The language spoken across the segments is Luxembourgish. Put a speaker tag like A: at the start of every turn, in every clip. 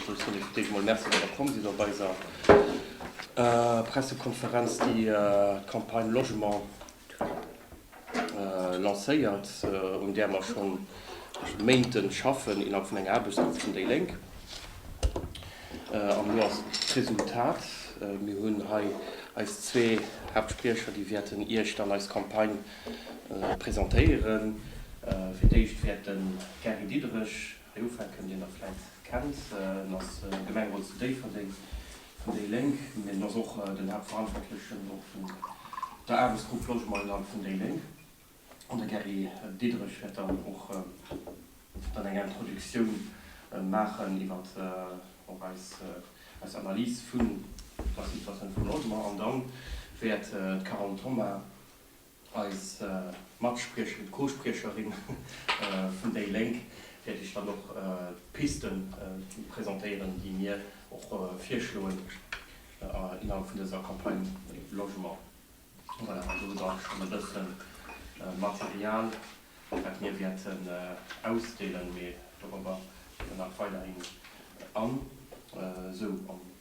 A: Ech soen iech direkt emol Merci, datt der komm sidd op eiser Pressekonferenz, déi d'Campagne Logement lancéiert, un där mer scho Méinte schaffen innerhalb vun enger Aarbechtsgrupp vun déi Lénk. An elo ass d'Resultat, Mir hunn hei eis zwee Haaptspriecher, déi wäerten iech dann eis Campagne presentéieren. Fir d'éischt wäert de Gary Diderich, Déi Umfrage kënnt Dir nach vläit kennt. En ass Gemengerot zu Déifferdeng vun déi Lénk, mee en ass och den Haaptverantwortlechen op der Aarbechtsgrupp Logement innerhalb vun déi Lénk. An de Gary Diderich wäert dann och dann eng Introductioun maachen iwwer och eis Analys vun der Situation vum Logement. An da wäert d'Carole Thoma Eis Matspriecherin, d'Co-Spriecherin vun déi Lénk, wäert Iech dann och d'Piste presentéieren, déi mir och virschloen innerhalb vun dëser Campagne Logement. Voilà, do hutt Der och schonn e bësse Material, wat mir wäerten ausdeelen, mee dorobber nach weiderhin an esou.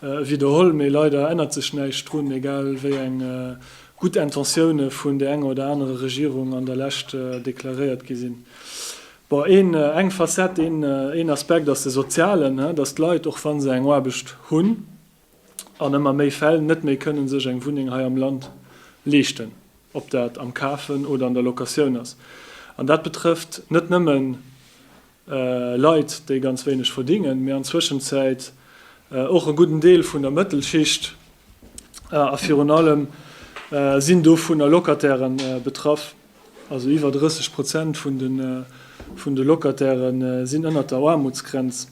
B: Widderholl, mee leider ännert sech näischt drun, egal wéi eng gutt Intentioune vun der enger oder anerer Regierung an der Lescht deklaréiert gi sinn. Bon, een, eng Facette, een, een Aspekt ass de sozialen, dass d'Leit, och wa se eng Aarbecht hunn, an ëmmer méi Fäll net méi kënnen sech eng Wunneng hei am Land leeschten, ob dat am Kafen oder an der Locatioun ass. An dat betrëfft net nëmmen Leit, déi ganz wéineg verdingen, mee an Zwëschenzäit och e gudden Deel vun der Mëttelschicht, a virun allem sinn dovunner Locataire betraff, also iwwer 30 Prozent vun de Locataire sinn ënnert der Aarmutsgrenz.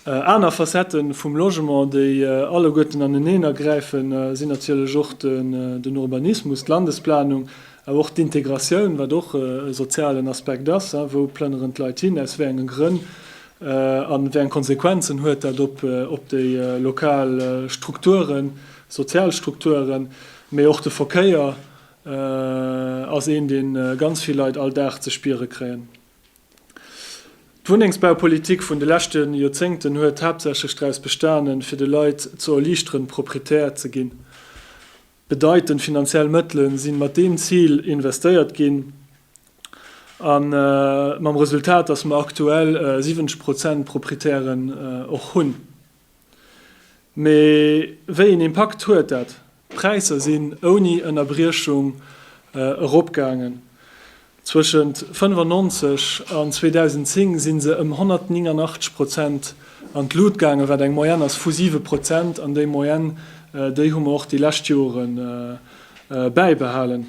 B: Aner Facette vum Logement, déi alleguerten aneneener gräifen, sinn natierlech och den Urbanismus, d'Landesplanung, awer och d'Integratioun, wat och e sozialen Aspekt ass, Wou plënneren d'Leit hin, aus wéi enge Grënn a wéi eng Konsequenzen huet dat op déi lokal Strukturen, sozial Strukturen? Mee och de Verkéier ass een, dee ganz vill Leit all Dag ze spiere kréien. D'Wunnengsbaupolitik vun de leschte Joerzéngten huet haaptsächlech draus bestanen, fir de Leit ze erliichteren, Proprietär ze ginn. Bedeitend finanziell Mëttele si mat deem Zil investéiert ginn, mam Resultat, datt mer aktuell 70 Prozent Proprietären och hunn. Mee wéi een Impakt huet dat? D'Präisser sinn ouni Ënnerbriechung eropgaangen. Zwëschent 1995 an 2010 sinn se ëm 189 Prozent an d'Lut gaangen, wat eng Moyenne ass vu siwe Prozent. An déi Moyenne, déi hu mer och déi lescht Jore bäibehalen.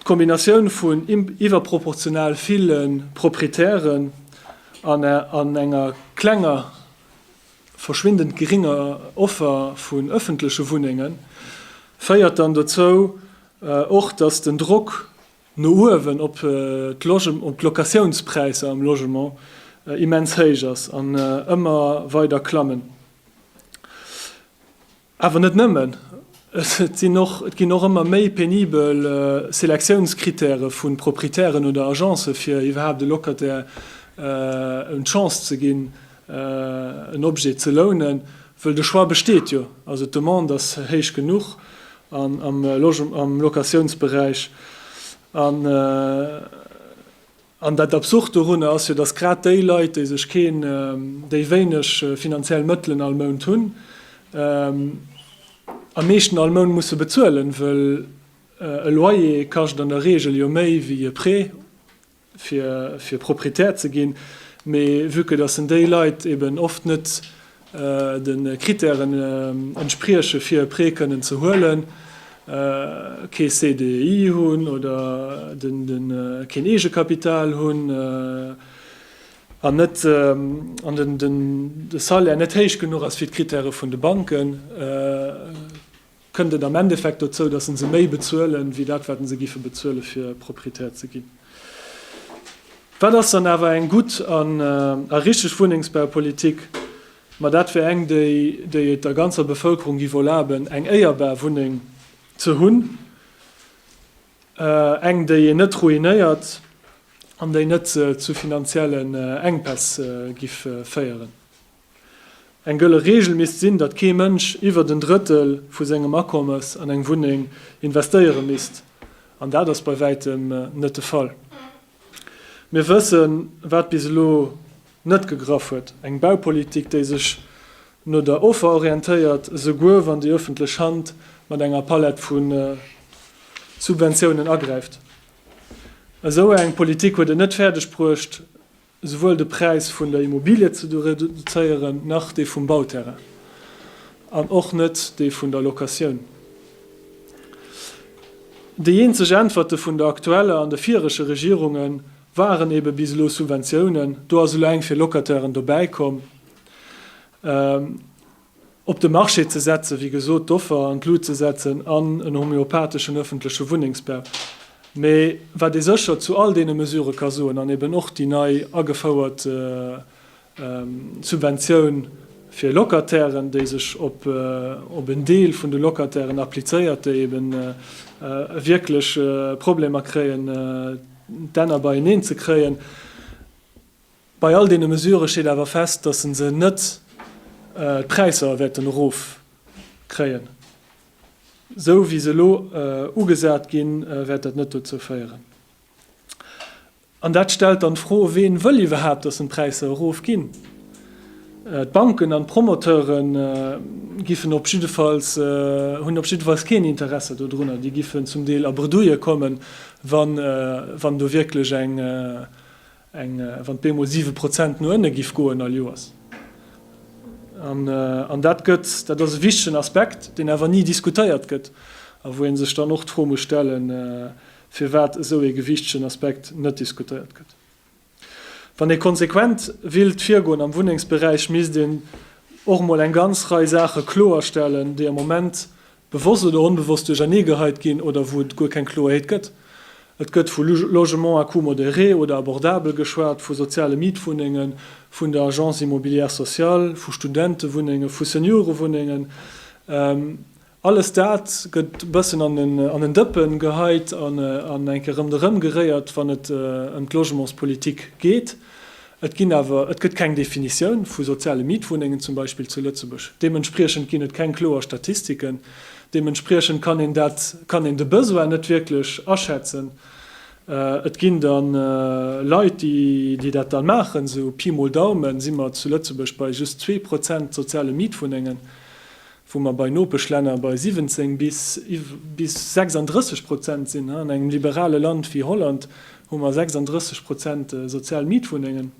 B: D'Kombinatioun vun iwwerproportional ville Proprietären an enger klenger, verschwindend geringer Offer vun ëffentleche Wunnenge féiert dann dozou och, datt den Drock no uewen op d'Locatiounspräisser am Logement immens héich ass an ëmmer weider klammen. Awer net nëmmen, et sinn och, et ginn och ëmmer méi penibel Selektiounscritèrë vu Proprietären oder Agencë fir iwwerhaapt e Locataire en d'Chance ze ginn en Objet ze lounen, wëll de Choix besteet jo, also d'Demande ass héich genuch am Locatiounsberäich an. An dat Absurd dorunner ass jo, dass grad déi Leit, déi sech keen, déi wéineg finanziell Mëttelen all Mount hunn, am meeschten all Mount musse bezuelen, wëll e Loyer kascht an der Reegel jo méi wéi e Prêt, fir Proprietär ze ginn. Mee vue que dass en déi Leit eben oft net de Krittären entspriechen, fir e Prêt kënnen ze huelen, kee CDI hunn oder keen Eegekapital hunn an de Salaire net héich genuch ass fir d'Krittäre vun de Banken. kënnt et am Endeffekt dozou, dass en se méi bezuelen, wéi dat wat en se giffe bezuelen, fir Proprietär ze ginn. Wat ass dann awer eng gutt an a richteg Wunnengsbaupolitik? Ma dat wär eng, déi, déi et der ganzer Bevëlkerung giff erlaben, eng éierbar Wunneng ze hunn, eng, déi een net ruinéiert an déi net zu finanziellen Enkpäss giff féieren. Eng gëlle Reegel misst sinn, datt kee Mënsch iwwert en Drëttel vu sengem Akommes an eng Wunneng investéiere misst, an dat ass bei wäitem net de Fall. Mir wëssen, wat bis elo net gegraff huet, eng Baupolitik, déi sech no der Offer orientéiert, esouguer wann déi ëffentlech Hand mat enger Palett vu Subventiounen agräift. Esou eng Politik huet et net fäerdeg bruecht, souwuel de Präis vun der Immobilie ze reduzéieren, nach dee vum Bauterrain an och net dee vun der Locatioun. Déi eenzeg Äntwerte vun der aktueller an de virege Regierunge waren ebe bis elo Subventiounen. Do ass elo eng fir Locatairen dobäikomm. op de Marché ze setzen, wéi gesot, d'Offer an d'Lut ze setzen an en homeopatheschen ëffentleche Wunnengsbau. Mä wat ee sécher zu all deene Mesurë ka soen, an eben och déi nei agefouert Subventioun fir Locatairen, déi sech op en Deel vun de Locatairen applizéiert, déi eben wierklech Problemer kréien, d'Enner beieneen ze kréien, Bei all deene Mesurë steet awer fest, datt se net d'Präisser wäerten erofkréien. Esou wéi se elo ugesat ginn, wäert dat net dozou féieren. An dat stellt dann d'Fro, Ween wëll iwwerhaapt, datt en d'Präisser erofginn? D'Banken an d'Promoteure giffen op jiddefalls, hunn op jiddefalls keen Interesser dodrunner. Déi giffen zum Deel a Bredouille kommen, wann do wierklech Eng, wann d'Bemo siwe Prozent no ënne giff goen all Joers. An, an dat gëtt, dat ass e wichtegen Aspekt, deen awer ni diskutéiert gëtt a wou ee sech dann och d'Fro muss stellen, firwat esou ee gewichtegen Aspekt net diskutéiert gëtt. Wann ee konsequent willt virgoen am Wunnengsberäich, misst een och emol eng ganz Rei Saache kloerstellen, déi am Moment bewosst oder onbewosst duerchernee geheit ginn oder wou et guer keng Kloerheet gëtt. Et gëtt vu Logement à coût modéré oder abordabel geschwat, vu soziale Mietwunnengen, vun der Agence immobilière sociale, vu Studentewunnenge, vu Seniorewunnengen. Alles dat gëtt e bëssen an en Dëppen geheit an enke rëmderëm geréiert, wann et ëm d'Logementspolitik geet. Et ginn awer, et gëtt keng Definitioun vu soziale Mietwunnengen zum Beispill zu Lëtzebuerg. Deementspriechend ginn et keng kloer Statistiken. Deementspriechend kann een dat, kann een de Besoin net wierklech aschätzen. Et ginn da Leit, déi, déi dat dann maachen. Sou Pi mol Daumen si mer zu Lëtzebuerg bei just zwee Prozent soziale Mietwunnengen. wou mer bei Nopeschlänner bei 17 bis 36 Prozent sinn, an engem liberale Land wéi Holland hu mer 36 Prozent sozial Mietwunnengen,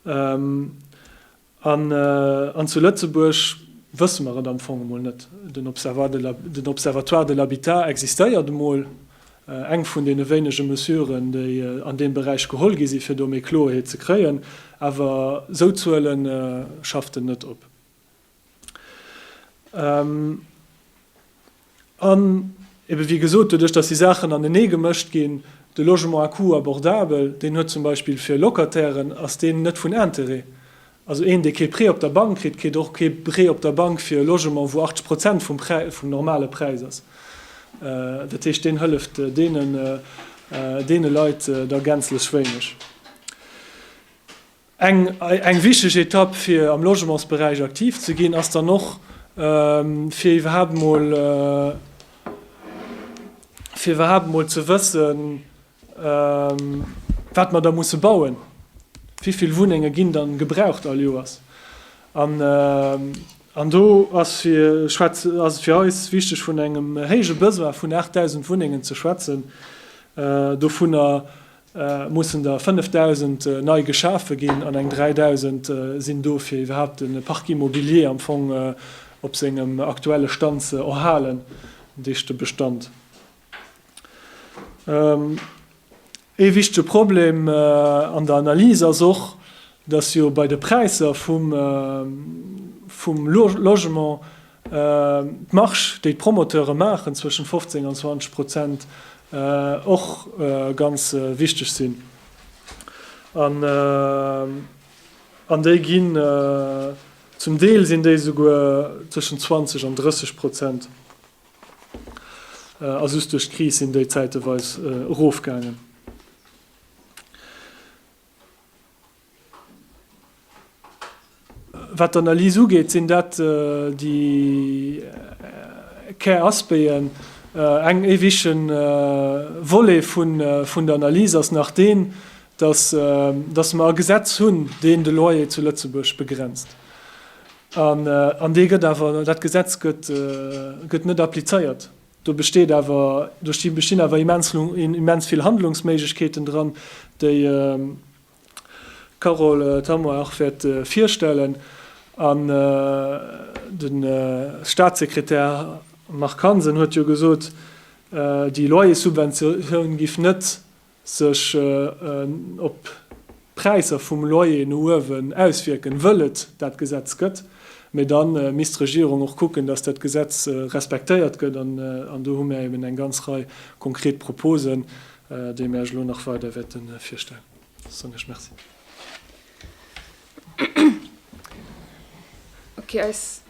B: an zu Lëtzebuerg wësse mer et am Fong emol net. Den Observatoire de l'habitat existéiert emol, eng vun deene wéinege Mesuren, déi an deem Beräich geholl gi si fir do méi Kloeerheet ze kréien, awer esou Zuele schafft en net op. An ebe wéi gesot, doduerch datt déi Saachen anenee gemëscht ginn, de Logement à coût abordable, deen huet zum Beispill fir Locatairen ass deen net vun Intérêt. Also een, dee kee Prêt op der Bank kritt, kritt och kee Prêt op der Bank fir e Logement, wou 80 Prozent vum Präis, vum normale Präis ass. Dat heescht, deen hëlleft deene Leit da gänzlech wéineg. Eng wichteg Etapp fir am Logementsberäich aktiv ze ginn ass dann och fir iwwerhaapt mol fir iwwerhaapt mol ze wëssen wat mer da musse bauen, wéivill Wunnenge ginn dann gebraucht all Joers. An do ass et fir eis wichteg vun engem héije Besoin vun 8.000 Wunnengen ze schwätzen, dovunner mussen der 5.000 nei geschafe ginn an eng 3.000 sinn do fir iwwerhaapt de Parc immobilier am Fong op sengem aktuelle Stand ze erhalen, dich de Bestand. Ee wichtege Problem an der Analys ass och, dass jo bei de Präisser vum Logement D'Marge, déi d'Promoteure maachen, zwëschen 15 an 20 Prozent, och ganz wichteg sinn. An déi ginn, zum Deel sinn déi esouguer zwëschen 20 an 30 Prozent, a just duerch d'Kris sinn déi zäiteweis erofgaangen. Wat d'Analys ugeet, sinn dat déi Käraspéien. Eng éiwege Volet vun der Analys ass nach deen, datt mer e Gesetz hunn, deen de Loyer zu Lëtzebuerg begrenzt. An dee gëtt awer, dat Gesetz gëtt net applizéiert. Do besteet awer, do bestinn awer immens vill Handlungsméiglechkeeten dran, déi, D'Carole Thamoy Arch wäert virstellen an de Statssekretär Marc Hansen huet jo gesot, déi Loyerssubventioun géif net sech op d'Präisser vum Loyer no uewen auswierken, wëll et dat Gesetz gëtt. Mee da misst d'Regierung och kucken, datt dat Gesetz respektéiert gëtt an do hu mir eben eng ganz Rei konkret Proposen, Dee mir eech elo nach weider wäerte virstellen. Soen ech Merci.
C: Okay, eis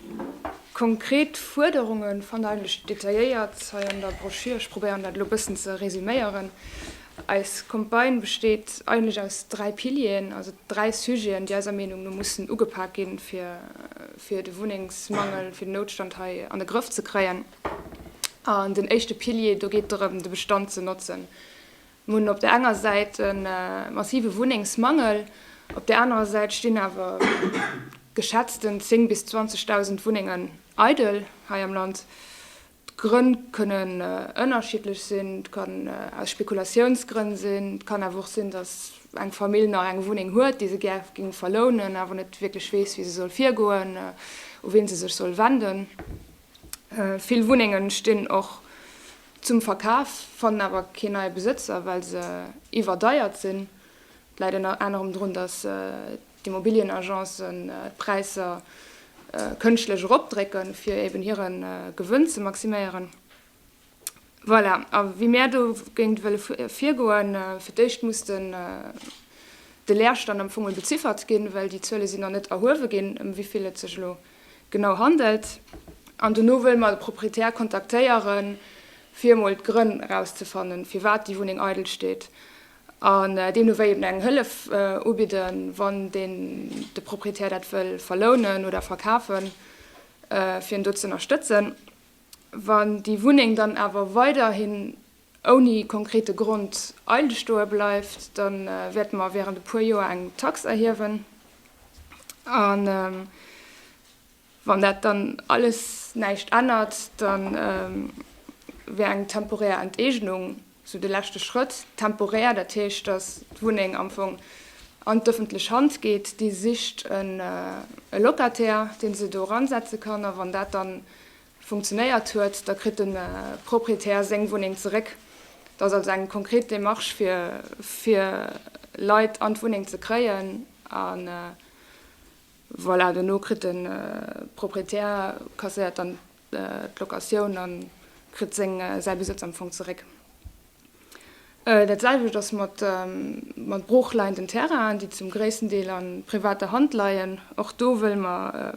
C: konkret Fuerderunge fannt der eigentlech detailléiert hei an der Broschür. Ech probéieren dat elo e bëssen ze resuméieren. Eis Campagne besteet eigentlech aus dräi Pilieren, also dräi Sujeten, déi eiser Meenung no mussen ugepak ginn, fir de Wunnengsmangel, fir den Noutstand hei an de Grëff ze kréien. An den éischte Pilier, do geet et drëm, de Bestand ze notzen. Mir hunn op der enger Säit e massive Wunnengsmangel, op der anerer Säit stinn awer geschätzten 10 bis 20.000 Wunnengen eidel hei am Land. D'Grënn kënnen ënnerschiddlech sinn, et kann aus Spekulatiounsgrënn sinn, et kann awer och sinn, datt eng Famill nach eng Wunneng huet, déi se gär géing verlounen, awer net wierklech weess, wéi se soll virgoen, u wien se sech soll wenden. Vill Wunnengen stinn och zum Verkaf, fannen awer keen neie Besëtzer, well se iwwerdeiert sinn. Dat läit ënner anerem drun, datt d'Immobilienagencen d'Präisser kënschtlech eropdrécken, fir eben hire Gewënn ze maximéieren. Voilà, a wéi mär dogéint wëlle virgoen, fir d'éischt muss den de Leerstand am Fong emol beziffert ginn, well déi Zuele sinn nach net erhuewe ginn, ëm wéi vill et sech elo genau handelt. An dono wëlle mer de Proprietär kontaktéieren, fir emol d'Grënn erauszefannen, firwat déi Wunneng eidel steet, an deemno wéi eben eng Hëllef ubidden, wann deen de Proprietär dat wëll verlounen oder verkafen, fir en do ze ënnerstëtzen. Wann déi Wunneng dann awer weiderhin ouni konkrete Grond eidel stoe bleift, da wäerte mer während e puer Joer eng Tax erhiewen. A wann dat dann alles näischt ännert, da wär eng temporär Enteegnung Sou de leschte Schrëtt, temporär, dat heescht, datt d'Wunneng am Fong an d'ëffentlech Hand geet, déi sicht e Locataire, dee se do eransetze kann. A wann dat da funktionéiert huet, da kritt de Proprietär seng Wunneng zeréck. Et ass also eng konkret Demarche, fir fir Leit an d'Wunneng ze kréien. A voilà, dono kritt de Proprietär, kasséiert dann d'Locatioun a kritt säi Besëtz am Fong zeréck. Dat selwecht ass mat broochleienden Terrainen, déi zum gréissten Deel a privater Hand leien. Och do wëlle mer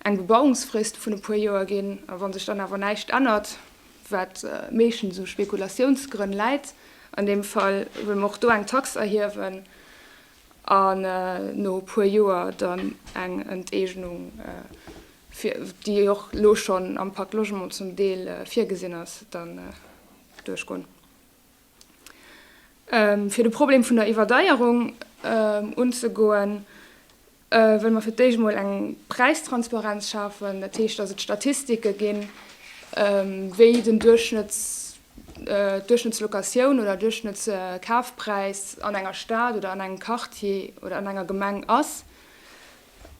C: eng Bebauungsfrist vun e puer Joer ginn. A wa sech dann awer näischt ännert, wat meeschtens u Spekulatiounsgrënn läit, an deem Fall wëlle mer och do eng Tax erhiewen. an no e puer Joer dann eng Enteegnung, déi och elo schonn am Pacte Logement zum Deel virgesinn ass, dann duerchgoen. Fir de Problem vun der Iwwerdeierung unzegoen, wëlle mer fir d'éischt emol eng Präistransparenz schafen. Dat heescht, dass et Statistike ginn, wéi den Duerchschnëtts. Duerchschnëttslocatioun oder Duerchschnëttskafpräis an enger Stad oder an engem Quartier oder an enger Gemeng ass,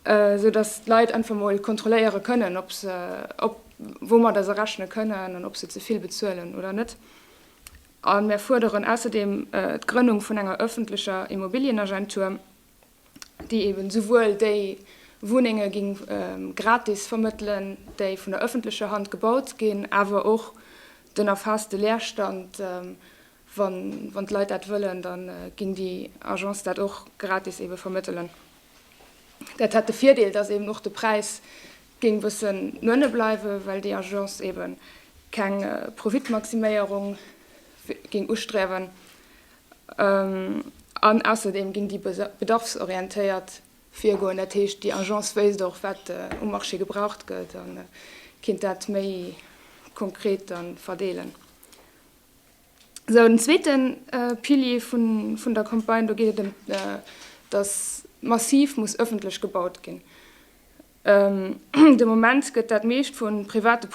C: sou datt d'Leit einfach mol kontrolléiere kënnen, ob se, ob, woumatter se rechne kënnen an ob se ze vill bezuelen oder net. A mir fuerderen ausserdeem d'Grënnung vun enger öffentlecher Immobilienagentur, déi eben souwuel déi Wunnenge gi gratis vermëttelen, déi vun der ëffentlecher Hand gebaut ginn, awer och den erfaasste Leerstand, wann d'Leit dat wëllen, da ginn déi Agence dat och gratis ebe vermëttelen. Dat hätt de Virdeel, datt eben och de Präis géing e bëssen no ënne bleiwen, well déi Agence eben keng Profitmaximéierung géing ustriewen. An ausserdeem ginn déi bedarfsorientéiert virgoen, dat heescht déi Agence wéisst och wat um Marché gebraucht gëtt a kinnt dat méi konkret da verdeelen. Esou den zweete Pilier vun der Campagne, do geet et ëm datt massiv muss ëffentlech gebaut ginn. De Moment gëtt dat meescht vu private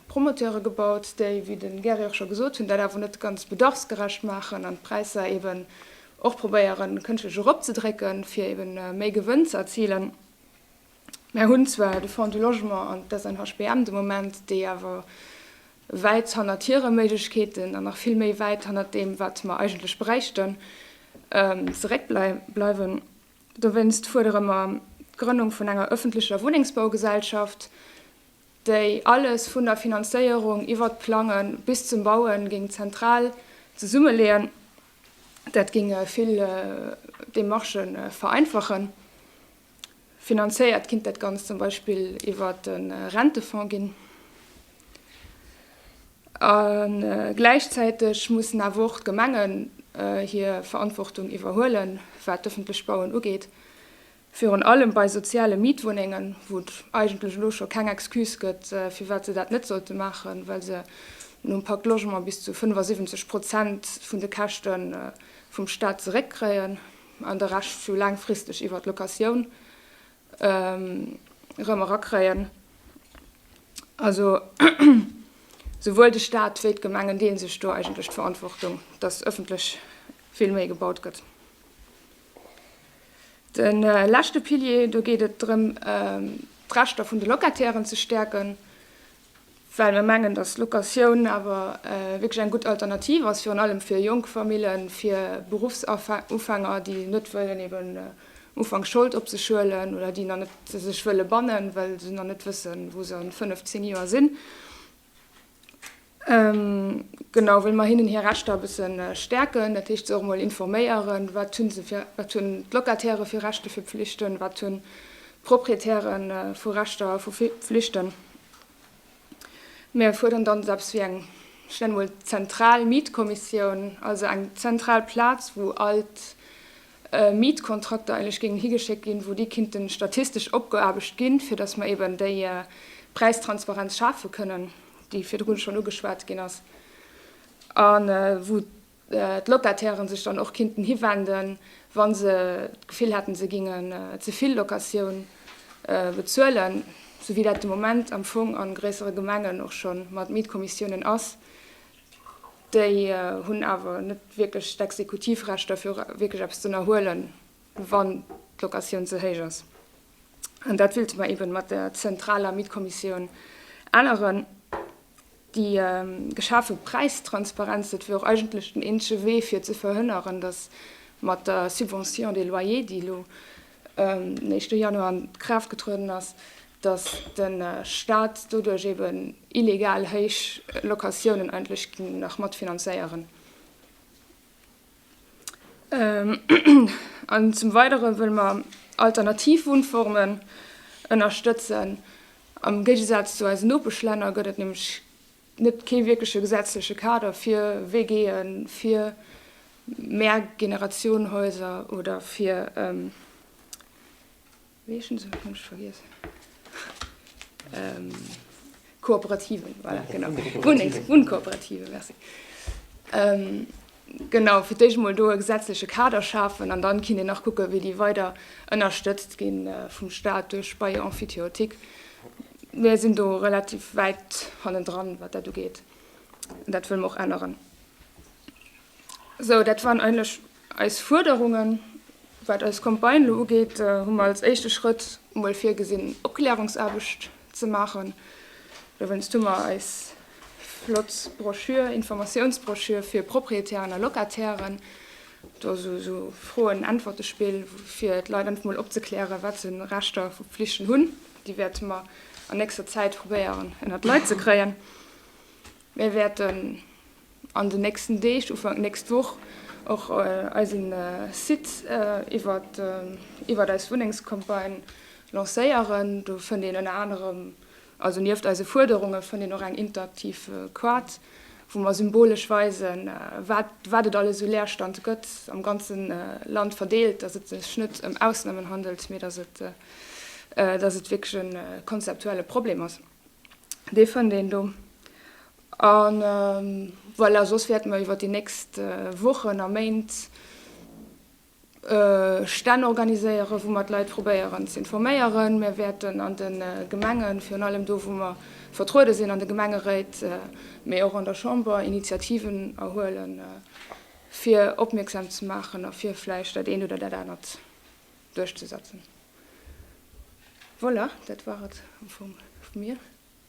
C: Promoteure gebaut, déi, wéi de Gary och scho gesot hunn, dat awer net ganz bedarfsgerecht maachen an d'Präisser eeben och probéieren, kënschtlech eropzedrécken, fir eeben méi Gewënn ze erzilen. Mär hunn zwar de Fonds du Logement an d'SNHBM de Moment, déi awer wäit hannert hire Méiglechkeeten an nach vill méi wäit hannert deem, wat mer eigentlech bräichten, zeréckbleiwen. Dowéinst fuerdere mer d'Grënnung vun enger ëffentlecher Wunnengsbaugesellschaft, déi alles vun der Finanzéierung iwwert d'Plange bis zum Baue géing zentral zesummeleeën. Dat géing vill Demarchë vereinfachen. Finanzéiert kinnt dat Ganzt zum Beispill iwwert e Rentefonds ginn. A gläichzäiteg mussen awer och d'Gemengen hir Verantwortung iwwerhuelen, wat d'ëffentlech Bauen ugeet, virun allem bei soziale Mietwunnengen, wou et eigentlech elo scho keng Excuse gëtt, firwat se dat net sollte maachen, well se nom Pacte Logement bis zu 75 Prozent vun de Käschte vum Stat zeréckkréien an de Rescht laangfristeg iwwer d'Locatioun erëm erakréien. Also souwuel de Stat wéi d'Gemengen deele sech do eigentlech d'Verantwortung, dass ëffentlech vill méi gebaut gëtt. De leschte Pilier, do geet et drëm d'Rechter vun de Locatairen ze stäerken. well mir mengen, dass d'Locatioun awer wierklech eng gutt Alternativ ass, virun allem fir jonk Famillen, fir Beruffsufänger, déi net wëllen eben ufanks Schold op sech huelen oder déi nach net sech wëlle bannen, well se nach net wëssen, wou se a fënnef, zéng Joer sinn. Genau, wëlle mer hinnen hir Rechter e bësse stäerken, dat heescht, se och emol informéieren, wat hu se fir, wat hunn d'Locatairë fir Rechte, fir Pflichten, wat hunn Proprietäre vu Rechter a vu Flichten. Mir fuerderen dann esou eppes wéi eng, ech nenne mol zentral Mietkommissioun, also eng zentral Plaz, wou all d'Mietkontrakter eigentlech géingen higeschéckt ginn, wou déi kinnten statistesch opgeaarbecht ginn, fir dass mer eben déi Präistransparenz schafe kënnen, déi virdrun schonn ugeschwat ginn ass, a wou d'Locatairen sech dann och kinnten hiwenden, wa se d'Gefill hätten, se géingen ze vill Locatioun bezuelen, sou wéi dat de Moment am Fong a gréissere Gemengen och scho mat Mietkommissiounen ass. Déi hunn awer net wierklech d'Exekutivrechter, fir wierklech eppes z'ënnerhuelen, wann d'Locatioun ze héich ass. An dat wëlte mer eebe mat der zentraler Mietkommissioun änneren. Déi geschafe Präistransparenz, dat wier och eigentlech den eenzege Wee fir ze verhënneren, datt mat der Subvention des loyers, déi elo den éischte Januar an d'Kraaft getrueden ass, datt de Staat doduerch eben illegal héich Locatiounen eigentlech géing nach matfinanzéieren. An zum Weidere wëlle mer alternativ Wunnformen ënnerstëtzen. Am Géigesaz zu eisen Nopeschlänner gëtt et nämlech net kee wierkleche gesetzleche Kader fir WGen, fir Mehrgenerationenhäuser oder fir. Weechen sou hunn ech vergiessen. Kooperativen, voilà, genau. Wunnengs-, Wunnkooperative, merci. Genau, fir d'éischt emol do e gesetzleche Kader schafen an dann kinnt een nach kucken, wéi déi weider ënnerstëtzt gi vum Stat duerch Bail emphytéotique. Mir sinn do relativ wäit hannendran, wat dat ugeet. Dat wëlle mer och änneren. Sou, dat waren eigentlech eis Fuerderungen. Wat eis Campagne elo ugeet, hu mer als éischte Schrëtt emol virgesinn, Opklärungsaarbecht ze maachen. Dowéinst hu mer eis flott Broschür, Informatiounsbroschür fir Proprietären a Locatairen, do esou esou Froen-Äntwerte-Spill, fir d'Leit einfach mol opzeklären, wat se u Rechter a Pflichten hunn. Déi wäerte mer an nächster Zäit probéieren ënnert d'Leit ze kréien. Mir wäerten. An den nächsten Deeg, Ufank nächst Woch, och eisen Site iwwert eis Wunnengscampagne lancéieren. Do fënnt een ënner anerem, also nieft eise Fuerderunge fënnt een och eng interaktiv Quart, wou mer symbolesch weisen, wat et alles u Leerstand gëtt, am ganze Land verdeelt, dass et sech net ëm Ausnamen handelt, mee dass et wierklech e konzeptuelle Problem ass. Dee fënnt een do. A voilà, soss wäerte mer iwwer déi nächst Wochen a Méint Stänn organiséieren, wou mer d'Leit probéieren ze informéieren. Mir wäerten an de Gemengen, virun allem do, wou mer vertruede sinn, an de Gemengeréit, mee och an der Chamber, Initiativen erhuelen, fir opmierksam ze maachen a fir vläicht dat eent oder dat anert duerchzesetzen. Voilà, dat war et am Fong vu mir.